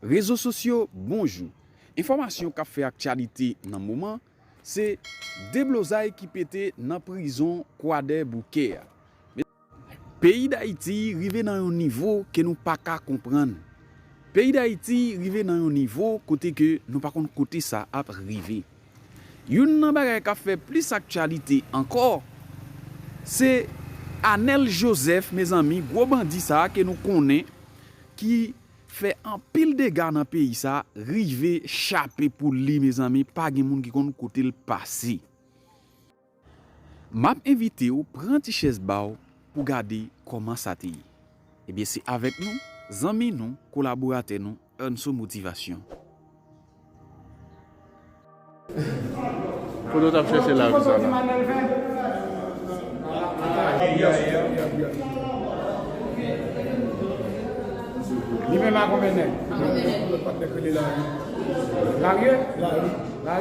Rezo sosyo Bonjou! Enfòmasyon kap fè aktyalite nan moman se deblozay ki pete nan prizon kwadèboukè a. Peyi Dayiti rive nan yon nivo ke nou pa ka konprann. Peyi Dayiti rive nan yon nivo kote ke nou pa konn kote sa ap rive. Youn nan bagay kap fè plis aktyalite ankò, se Anèl Jozèf mezanmi, gwo bandi sa ke nou konnen ki fè anpil dega nan peyi sa rive chape pou li mezanmi pa gen moun ki konn kote l pase. Map envitew pran ti chèz baw pou gade kòman sa te ye. Ebyen se avèk nou, zanmi nou, kolaboratè nou Ernso Motivation. Kote w tap chèche lavi sa la?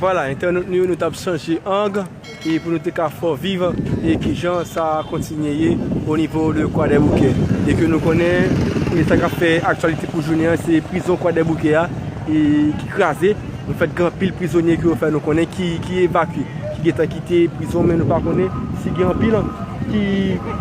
Vwala entènot nou yo nou tap chanje ang e pou nou te ka fò viv e kijan sa kontinye ye o nivo de kwadèboukè e ke nou konnen e sa kap fè aktyalite pou jounen an se prizon kwadèboukè a e ki kraze nou fèt gen anpil prizonye ke yo fè nou konnen ki ki evakye ki gentan kite prizon men nou pa konnen si gen anpil ki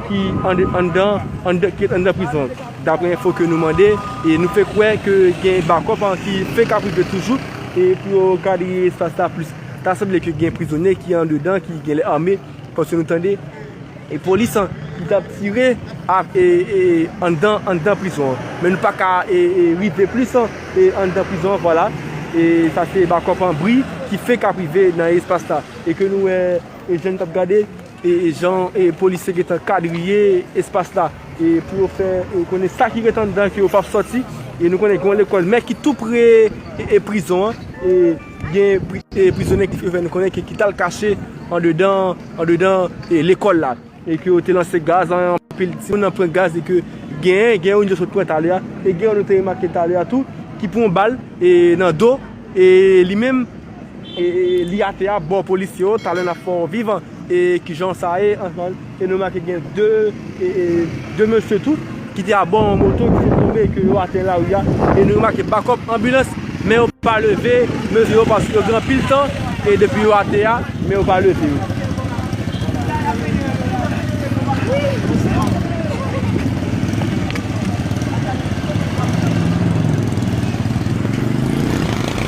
ki anndan anndan ki anndan prizon. Daprè enfo ke nou mande, e nou fè kwè ke gen bakòp an ki fenk ap rive toujou, e pou yo kadrye espas la plis. Ta sanble ke gen prizonye ki andedan ki genlè ame, paske nou tande e polis an ki t ap tire ak e e anndan anndan prizon an. Men nou pa ka e e rive plis an e anndan prizon an vwala. E sa se bakòp an bri ki fenk ap rive nan espas la. E ke nou wè e jan nou t ap gade. Jan polis yo gentan kadriye espas la pou yo fè konnen sa ki ret anndan ke yo pap sòti e nou konnen gen yon lekòl men ki tou pre prizon an e gen prizonye ki fè nou konnen ke ki tal kache andedan andedan lekòl la e ke yo te lanse gaz anpil timoun nan pran gaz e ke gen gen youn yo sot pran talè a e gen youn nou te remake talè a tou ki pran yon bal nan do e li menm li atè a bò polisye yo talè nap fè w vivan e kijan sa ye ansann e nou make gen 2 2 mesye tou ki te abò yon moto ki te tonbe e ke yo atè nan lari a e nou remake bakòp anbilans men yo pa leve mesye yo paske yo gen anpil tan e depi yo atè a men yo pa leve yo.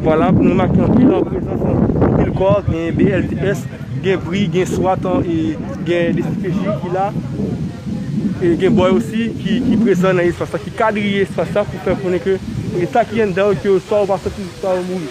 Vwala nou remake anpil an prezans anpil kò gen BLTS gen bri gen swat gen dcpj ki la e gen bòy osi ki prezan nan espas la ki kadriye espas la pou fè konnen ke eta ki anndan yo ke oswa ou pa sòti oswa ou mouri.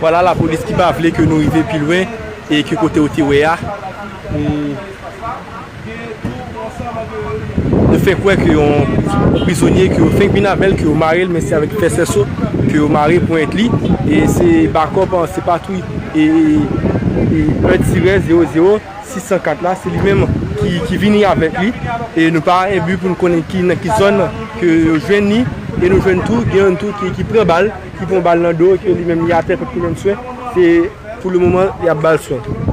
Vwala la polis ki pa vle ke nou rive pi lwen e ki kote ou te wè a. Yo fè kwè ke yon prizonye ke yo fenk vin avèl, ke yo mare l men se avèk fè sèso ke yo mare ponyèt li e se bakòp an se patwouy e 1 tirè 0 0. 604 la se li menm ki vini avèk li e nou pa enbi pou nou konnen ki nan ki zòn ke yo jwenn ni e nou jwenn tou gen yon tou ki pran bal ki pran bal nan do ke li menm li atè pèp ki menm swen se pou le moman y ap bal swen.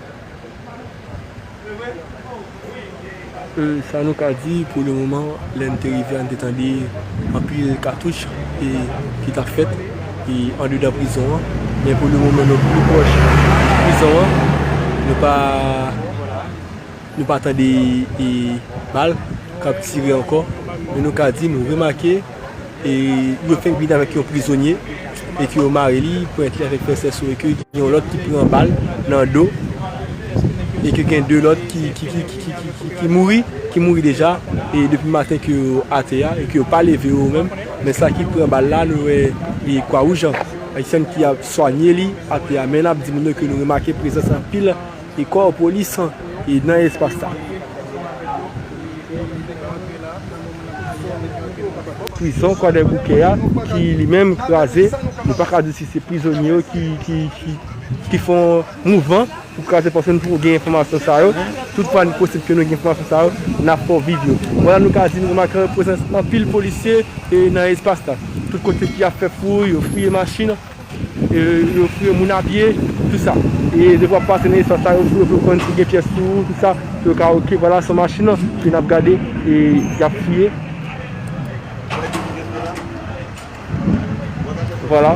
Sa nou ka di pou le moman, lè n te rive a n te tande anpil katouch ki t ap fèt andedan prizon an. Men pou le moman nou pi pwòch prizon an, nou pa tande bal k ap tire ankò. Men nou ka di nou remake. E yo fenk vini avèk yon prizonye e ke yo mare li, pwent li avèk prensès yo e ke gen yon lòt ki pran bal nan do e ke gen 2 lòt ki mouri, ki mouri deja e depi maten ke yo atè a e ke yo pa leve yo menm. Men sa ki pran bal la nou wè e kwa wouj Ayisyen ki ap swanye li atè a. Men n ap di moun yo ke nou remake prezans anpil E kò polis an e nan espas la. Prizon Kwadèboukè a ki li menm kraze, nou pa ka di si se prizonye yo ki fè yon mouvman pou kraze paske nou poko gen enfòmasyon sa yo. Tout fwa li posib ke nou gen enfòmasyon sa yo, n ap fè w viv yo. Vwala nou ka di nou remake prezans anpil polisye nan espas la. Tout kote ki ap fè fouy, yo fouye machin. Yo fouye moun a pye, tout sa. E depi wap pase nan espas sa yo fouye pou yo konn si gen pyès sou ou, tout sa. Pou yo ka ok vwala son machin lan. Ke nap gade e yap fouye. Vwala.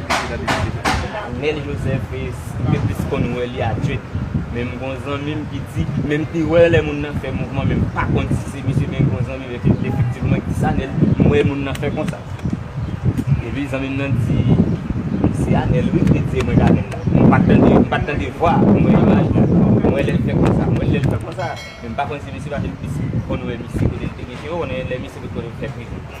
prezidan deside fè. Nel Joseph mte plis konn wè li a djwet men m gon zanmi m ki di men m te wè lè moun nan fè mouvman men m pa konn si se misye men gon zanmi m efektivman ki di sa Nel m wè moun nan fè konsa epi zanmi m nan di se a Nel wi mte di e mwen gade l la m pat tande m pat tande vwa a m wè imaj la m wè lè l fè konsa m wè l lè l fè konsa men m pa konn si misye paske m plis konn wè misye kote l te gen cheve w konnen lè misye sot kote l fè prizon.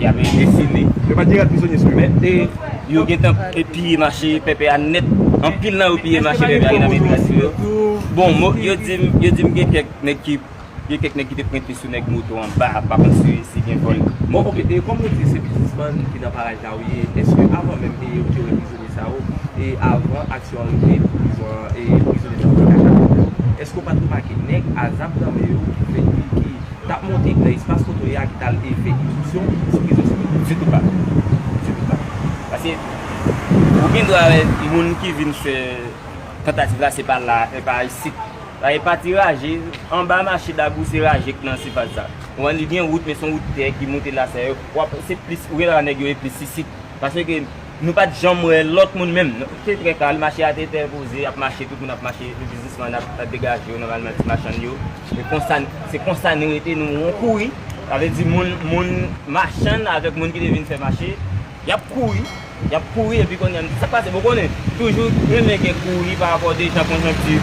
Yap rete sele. Yo pa di rad prizonye sou yo. Men e yo gentan piye mache pèpè a nèt. Anpil nan yo piye mache pèpè a ki nan men tras yo. Bon mo yo dim yo dim gen kèk nèg ki gen kèk nèg ki te prente sou nèg moto anba pa konn si si gen vòl. Bon ok e kòm ou di se biznismann ki nan paraj la ou ye eske avan menm e yo te wè prizonye. Esao e avan aksyon an rive pou prizon an e prizonye sa yo te ka chape blo eske ou pat remake nèg a zam nan men yo ki fè ki ki tap monte nan espas kotoye a ki tal e fè instriksyon sou prizon sa yo. Ditou pa. Ditou pa. Paske ou gen dwa wè moun ki vin fè tantativ la se pa la e pa isit. Sa e pati raje anba mache Dabou se raje k nan sifas sa. Ou wè li gen wout men son wout tè ki monte la sa yo. Wap se plis ou gen dwa wè nèg yo e plis isit. Paske ke. Nou pat janm wè lòt moun menm. Se trè kalm, mache a te trè poze, ap mache, tout moun ap mache, tout biznisman ap degaje yo nòmalman, ti machann yo. Se konsa nou rete, nou won kouri. Sa vle di moun machann avèk moun ki te vin fè mache, y ap kouri, y ap kouri epi kounye a m di sa k pase. Bon ou konnen, toujou renmen gen kouri parapò de jan konjonkti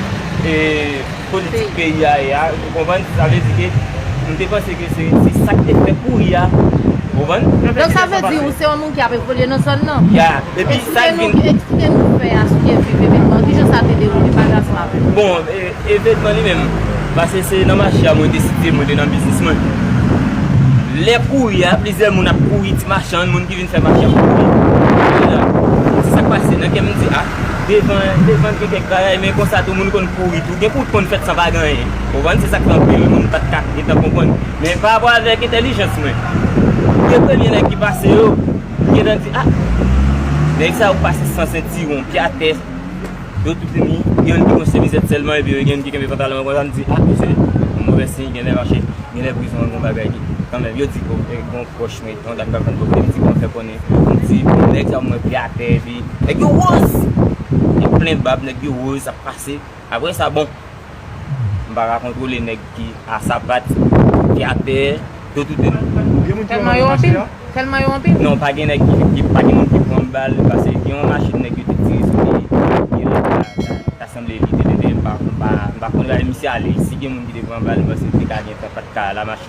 politik peyi a ye a, ou konprann, sa vle di ke nou te panse ke se sa ki te fè kouri a, ou konprann? Donk sa vle di ou se yon moun ki ap evolye nan zòn nan? Ya, epi sa ki vin. Eksplike nou nou pè a sou ke viv evenman an, kijan sa te dewoule, pa jas ma vle. Bon, evenman li menm, pase se nan mache a mwen te site mwen te nan biznis mwen. Lè kouri a, plizyè moun ap kouri, ti machann, moun. Ki vin fè machann mwen vin Kounye la Sak pase nan kèm mdi ah Devan devan gen kèk bagay men konsa tou moun konn kouri tou Gen kout konn fèt san pa gen anyen Ou konprann se sak fè anpil moun pat ka gentan konprann Men pa rapò avèk entèlijans mwen 2 premye nèg ki pase yo M gentan di ah Nèg sa yo pase san sentiwon Pye atè Yo tout vini Gen youn ki gen yon semizèt sèlman epi gen youn ki kenbe pantalon an konsa M di ah Msye Move siy genlè mache Genlè prizon an gon bagay ki Kanmenm yo di bon Bon Mwen yon dam kap vann kote m di kòman fè konnen m di bon nèg sa mwen vle atè epi nèg yo woz gen plen bab nèg yo woz ap pase aprè sa bon m pa ka kontwole nèg ki a sapat ki atè yo tout de nou Tèlman yo anpil Tèlman yo anpil Non pa gen nèg ki pa gen moun ki pran bal pase gen yon machin nèg yo te tire sou li gen lè ta ta sanble li te leve m pa m pa m pa konnen misye ale si gen moun ki te pran bal m panse li te ka gen tan pat ka la machin.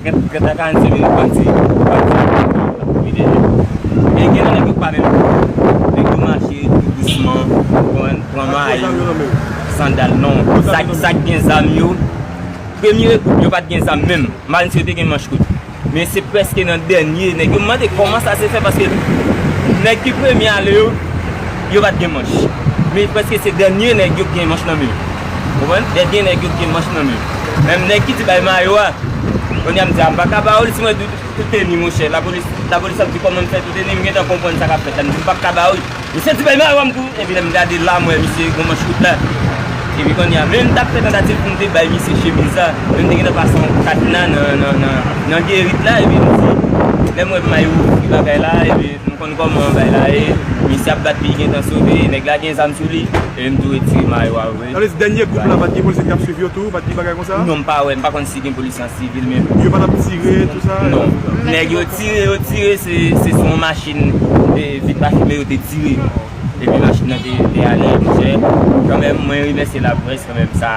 Gen ta ka di menm bandi yo bandi yo menm yo tap kouri dèyè yo. Men gen nan nèg yo pa menm kouri. Nèg yo mache tou dousman ou konprann pran may, sandal non. Sa k gen zam yo, premye rekou yo pat gen zam menm. M pa di si yo te gen manch kout. Men se prèske nan dènye nèg yo. M mande kòman sa se fè paske nèg ki premye ale yo yo pat gen manch. Men prèske se dènye nèg yo ki gen manch nan men yo. Ou konprann? Lè gen nèg yo ki gen manch nan men yo. Menm nèg ki di bay mayo a, kounye a m di a m pa ka ba ou li si mwen di w tou teni monchè. Lapolis, lapolis ap di kòman m fè tou teni, m gen tan konprann sa k ap fèt la, m di m pa p ka ba ou li. Misye di bay mayo a m di w, epi lè m gade la m wè misye gen manch kout la. Epi kounye a, menm m t ap fè tantativ pou m te bay misye chemiz la, men m te gen tan pase yon katna nan, nan, nan, nan gerit la epi m di, lè m wè mayo ouvri bagay la epi. Nou konn koman bagay la ye. Misye ap bat li li gentan sove e nèg la gen zam sou li e menm tou retire mayo a vre. Sa vle di dènye koup la pat gen polisye ki tap swiv yo tou, pat gen bagay konsa? Non m pa wè, m pa konn si gen polisye an sivil men. Yo pa tap tire tout sa? Non. Nèg yo tire yo tire se sou yon machin vit pa fimen yo te tire. Epi machin nan te ale, misye kanmenm mwen remèsye laprès kanmenm sa.